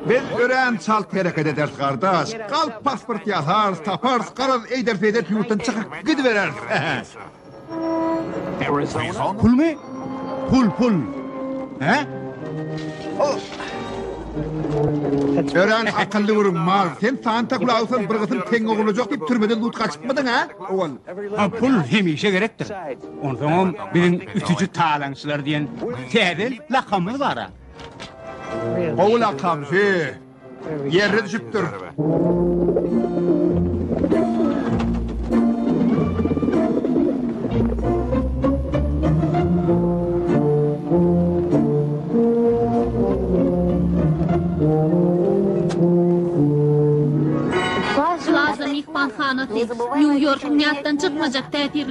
Biz örän çalt hereket ederis, gardaş. Galp pasport ýasarys, taparys, garaz, eýder-beýder ýurtdan çykyp gidibereris. Pulmy? Pul, pul. Hä? Örän akylly gürrüň, mal. Sen Santa Klausdan bir gysyl teňňe gurlajak diýip türmeden zut gaçypmydyň, hä? Owal, pul hemişe gerekdir. Onsoňam biziň ütüji talaňçylar diýen täze lakamymyz bar-a. Gowy lakam, he. Ýerine düşüpdir. Plaza myhmanhanasy, Nýu-Ýorkuň ýatdan çykmajak täsirli